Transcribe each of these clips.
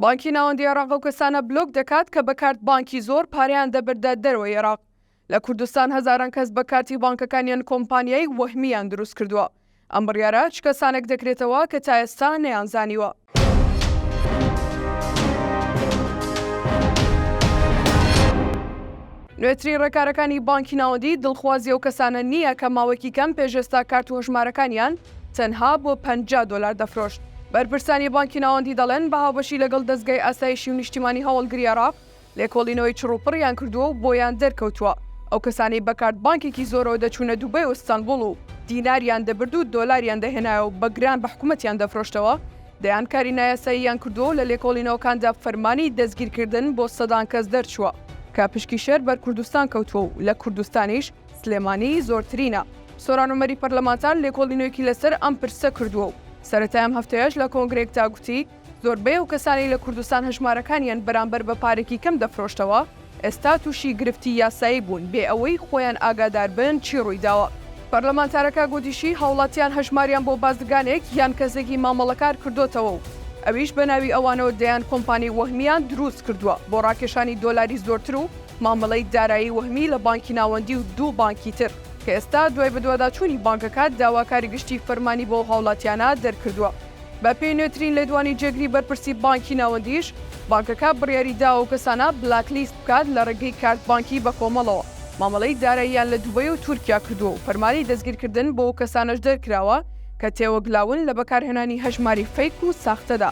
بانکی ناوەندی عێراق ئەو کەسانە بلۆک دەکات کە بە کارت بانکی زۆر پارەیان دەبردە دەرەوەی عێراق. لە کوردستان هەزاران کەس بە کارتی بانکەکانیان کۆمپانیای وەهمییان دروست کردووە. ئەم بڕیارە چ کەسانێک دەکرێتەوە کە تا ئێستا نەیانزانیوە. نوێترین ڕێکارەکانی بانکی ناوەندی دڵخوازی ئەو کەسانە نییە کە ماوەیەکی کەم پێش ئێستا کارت و هەژمارەکانیان، تەنها بۆ پەنجا دۆلار دەفرۆشت. بەرپرسانی بانکی ناوەندی دەڵێن، بە هاوبەشی لەگەڵ دەزگای ئاسایشی و نیشتیمانی هەواڵگری عێراق، لێکۆڵینەوەی چڕوپڕیان کردووە و بۆیان دەرکەوتووە ئەو کەسانەی بە کارت بانکێکی زۆرەوە دەچوونە دوبەی و ستانبوڵ و دیناریان دەبرد و دۆلاریان دەهێنایە و بە گران بە حکومەتیان دەفرۆشتەوە، دەیان کاری نایاساییان کردووە و لە لێکۆڵینەوەکاندا فەرمانی دەستگیرکردن بۆ سەدان کەس دەرچووە کە پشکی شەر بەر کوردستان کەوتووە و لە کوردستانیش سلێمانی زۆرترینە. سۆران عومەری پەرلەمانتار لێکۆڵینەوێکی لەسەر ئەم پرسە کردووە و سەرەتای ئەم هەفتەیەش لە کۆنگرەیەکدا گوتی، زۆربەی ئەو کەسانەی لە کوردستان هەژمارەکانیان بەرامبەر بە پارێکی کەم دەفرۆشتەوە، ئێستا تووشی گرفتی یاسایی بوون بێ ئەوەی خۆیان ئاگادار بن چی ڕوویداوە. پەرلەمانتارەکە گوتیشی، هاوڵاتیان هەژماریان بۆ بازرگانێک یان کەسێکی مامەڵەکار کردۆتەوە و ئەویش بەناوی ئەوانەوە دەیان کۆمپانیی وەهمییان درووست کردووە بۆ ڕاکێشانی دۆلاری زۆرتر و مامەڵەی دارایی وەهمی لە بانکی ناوەندی و دوو بانکی تر کە ئێستا دوای بەدواداچوونی بانکەکە داواکاری گشتی فەرمانی بۆ ئەو هاوڵاتیانە دەرکردووە. بەپێی نوێترین لێدوانی جێگری بەرپرسی بانکی ناوەندیش، بانکەکە بڕیاری داوە ئەو کەسانە بلاک لیست بکات لە ڕێگەی کارت بانکی بەکۆمەڵەوە مامەڵەی داراییان لە دوبەی و تورکیا کردووە و فەرمانی دەستگیرکردن بۆ ئەو کەسانەش دەرکراوە کە تێوەگلاون لە بەکارهێنانی هەژماری فەیک و ساختەدا.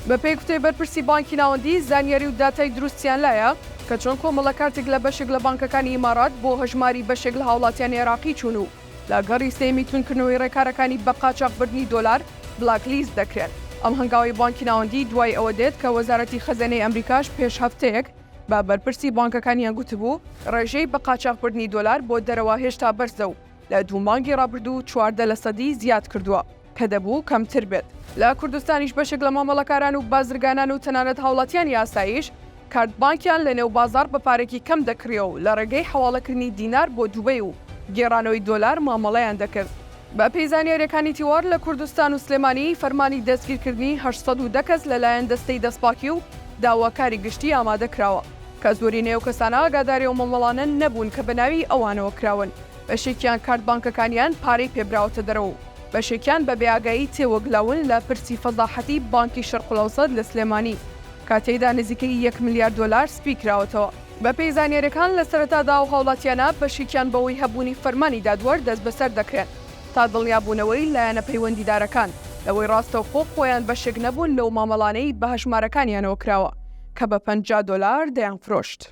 بەپێی گوتەی بەرپرسی بانکی ناوەندی، زانیاری و داتای دروستیان لایە، کە چۆن کۆمەڵە کارتێک لە بەشێک لە بانکەکانی ئیمارات بۆ هەژماری بەشێک لە هاوڵاتیانی عێراقی چوون و لە گەڕی سێیەمی توندکردنەوەی ڕێکارەکانی بە قاچاخ بردنی دۆلار بلاک لیست دەکرێن. ئەم هەنگاوەی بانکی ناوەندی دوای ئەوە دێت کە وەزارەتی خەزێنەی ئەمریکاش پێش هەفتەیەک بە بەرپرسی بانکەکانیان گوتبوو ڕێژەی بە قاچاخ بردنی دۆلار بۆ دەرەوە هێشتا بەرزە و لە دوو مانگی ڕابردوو چواردە لەسەدی زیاد کردووە. کە دەبوو کەمتر بێت. لە کوردستانیش بەشێک لە مامەڵەکاران و بازرگانان و تەنانەت هاوڵاتیانی ئاساییش کارت بانکیان لە نێو بازاڕ بە پارەکی کەم دەکڕییە و لە ڕێگەی حەواڵەکردنی دینار بۆ دوبەی و گێڕانەوەی دۆلار مامەڵەیان دەکرد. بە پێی زانیارییەکانی تیوار لە کوردستان و سلێمانی فەرمانی دەستگیرکردنی هەشت سەد و دە کەس لە لایەن دەستەی دەستپاکی و داواکاری گشتی ئامادە کراوە کە زۆرینەی ئەو کەسانە ئاگاداری ئەو مامەڵانە نەبوون کە بە ناوی ئەوانەوە کراون. بەشێکیان کارت بانکەکانیان پارەی پێ براوەتە دەرەوە و بەشێکیان بە بێئاگایی تێوەگلاون لە پرسی فەزاحەتی بانکی شەرقلەوسەت لە سلێمانی کە تێیدا نزیکەی یەک ملیار دۆلار سپی کراوەتەوە. بەپێی زانیاریەکان لە سەرەتادا ئەو هاوڵاتیانە بەشێکیان بەوەی هەبوونی فەرمانی دادوەر دەستبەسەر دەکرێن تا دڵنیابوونەوەی لایەنە پەیوەندیدارەکان لەوەی ڕاستەوخۆ خۆیان بەشێک نەبوون لەو مامەڵانەی بەهەژمارەکانیانەوە کراوە کە بە پەنجا دۆلار دەیانفرۆشت.